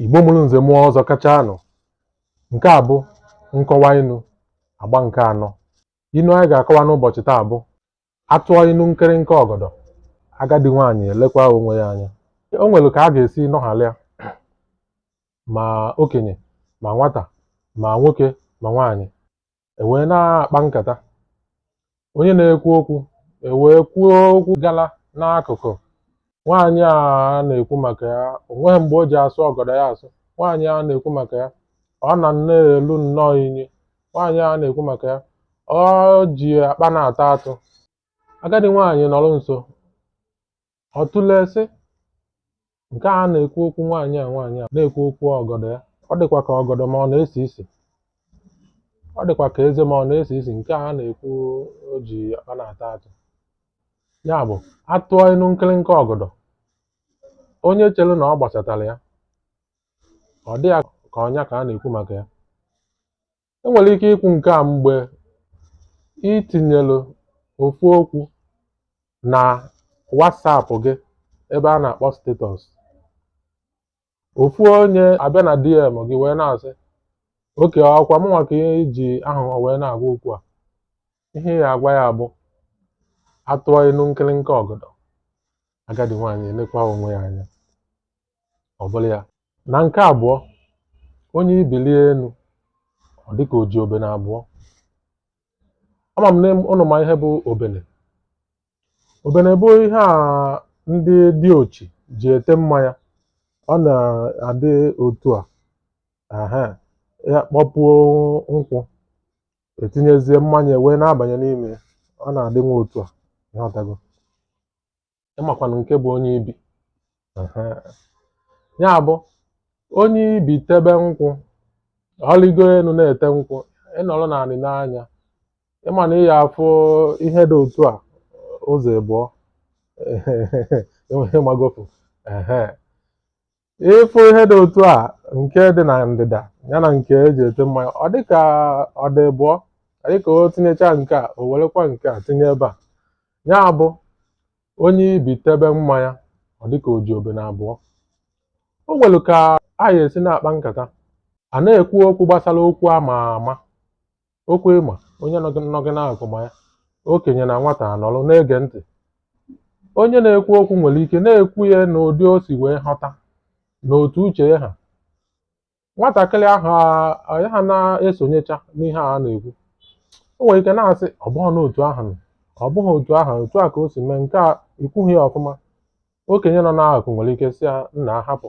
Igbo mụrụ nze mụọ ọzọ kacha anụ nke a bụ nkọwa inu agba nke anọ inu anyị ga-akọwa n'ụbọchị taa bụ a tụọ inu nkịrịnka ọgọdọ agadi nwaanyị elekwa onwe ya anya o nwere ka a ga-esi nọghalịa ma okenye ma nwata ma nwoke ma nwaanyị e wee na-akpa nkata onye na-ekwu okwu ewee kwuo okwu gala n'akụkụ nwaanyị a na-ekwu maka ya o nweghị mgbe o ji asụ ọgọdọ ya asụ nwaanyị a na-ekwu maka ya ọ na na-elu nnọọ inyi nwaanyị a na-ekwu maka ya o ji akpa na-ata atụ agadi nwaanyị nọrọ nso ọ tụlee sị nke a na-ekwu okwu nwaanyị a nwaanyị a na-ekwu okwu ọgọdọ ya ọ dịkwa ka ọgọdọ m a ọ na-esi isi ọ dịkwa ka eze m a ọ na-esi isi nke a na-ekwu o ji akpa na-ata atụ ya bụ a tụọ inu nkịrịnka ọgọdọ onye chere na ọ gbasatara ya ọ dị ya ka ọ nya ka a na-ekwu maka ya e nwere ike ikwu nke a mgbe i tinyere ofu okwu na WhatsApp gị ebe a na-akpọ status ofu onye abịa na DM gị wee na-asị okay ọ kwa mụnwa ka ihe iji ahụ wee na-agwa okwu a ihe ị ya-agwa ya bụ a tụọ inu nkịrịnka ọgọdọ agadi nwaanyị elekwa onwe ya anya ọ bụrụ ya na nke abụọ onye ibi lịa enu ọ dị ka o ji obene abụọ ama m na ụnụ ma ihe bụ obene obene bụ ihe a ndị diochi ji ete mmanya ọ na-adị otu a ehe a kpọpuo nkwụ e tinyezie mmanya wee na-abanye n'ime ya ọ na-adị nwa otu a ị ghọtago ị makwanụ nke bụ onye ibi ya bụ onye ibi tebe nkwụ ọ lịgo elu na-ete nkwụ ị nọrọ n'anị nee anya ị ma na ị ya-afụ ihe dị otu a ụzọ ịbụọ ị magofu ị fụ ihe dị otu a nke dị na ndịda ya na nke e ji ete mmanya ọ dị ka ọ dị ịbụọ ọ dị ka o tinyecha nke a o werekwa nke a tinye ebe a ya bụ onye ibi tebe mmanya ọ dịka o ji obene abụọ o nwere ka a ya-esi na-akpa nkata a na-ekwu okwu gbasara okwu ama ama okwu ịma onye nọ gị nọ gị n'akụkụ ma ya okenye na nwata anọrọ na-ege ntị onye na-ekwu okwu nwere ike na-ekwu ya n'ụdị o si wee ghọta na otu uche ya ha nwatakịrị ahụ a- a- ya ha na-esonyecha n'ihe a na-ekwu o nwere ike na-asị ọ bụghị n'otu ahụ no, ọ bụghị otu ahụ otu a ka o si mee nke a ikwughị ya ọfụma okenye nọ n'akụkụ nwere ike sị ya nna hapụ